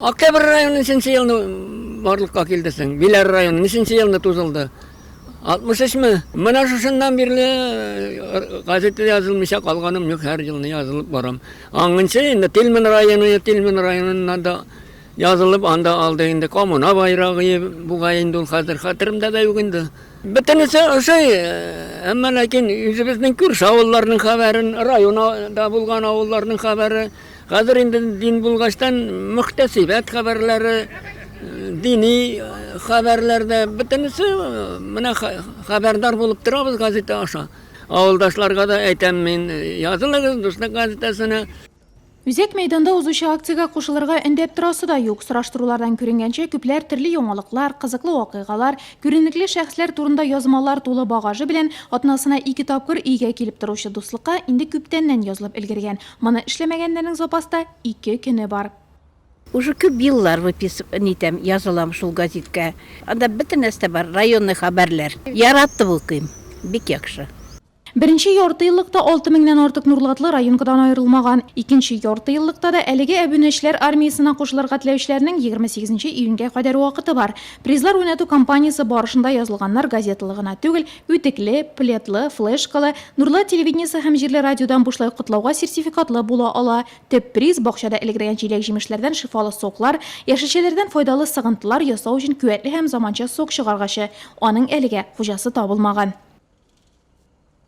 Октябрь районы ниченче елны барлыкка килде соң? Биләр районы ниченче елны тузылды? 63-ме? Менә шушыннан бирле э, газетта язылмыйча калганым юк, һәр елны язылып барам. Аңынчы инде Тилмен районы, Тилмен районыннан да язылып, анда алды инде коммуна байрагы, бугай инде ул хәзер хәтеремдә дә юк инде. Бөтенесе ошый, э, әмма ләкин үзебезнең күрше авылларның хәбәрен, районда булган авылларның хәбәре, Хәзер инде дин булгачтан мөхтәсибәт хәбәрләре, дини хәбәрләрдә бөтенесе менә хәбәрдар булып торабыз газета аша. Авылдашларга да әйтәм мин, язылыгыз Дуслык газетасына. Үзәк мәйданда узучы акциягә кушылырга өндәп торасы да юк. Сораштырулардан күренгәнчә, күпләр төрле яңалыклар, кызыклы вакыйгалар, күренекле шәхесләр турында язмалар тулы багажы белән атнасына ике тапкыр өйгә килеп торучы Дуслыкка инде күптәннән язылып өлгергән. Моны эшләмәгәннәрнең запаста ике көне бар. Уже күп еллар выпис нитәм, язылам шул газиткә. Анда бөтен нәрсә бар, районный хәбәрләр. Яратып укыйм, бик яхшы. Беренче яртыеллыкта алты меңнән артык нурлатлы районкадан аерылмаган. Икенче яртыеллыкта да әлеге әбүнәчләр армиясенә кушылырга теләүчеләрнең егерме сигезенче июньгә кадәр вакыты бар. Призлар уйнату кампаниясе барышында язылганнар газеталы гына түгел, Үтекле, пледлы, флешкалы, Нурлат телевидениесе һәм җирле радиодан бушлай котлауга сертификатлы була ала. Төп приз, бакчада элгергән җиләк-җимешләрдән шифалы соклар, яшелчәләрдән файдалы сыгынтылар ясау өчен куәтле һәм заманча сок чыгаргачы. Аның әлегә хуҗасы табылмаган.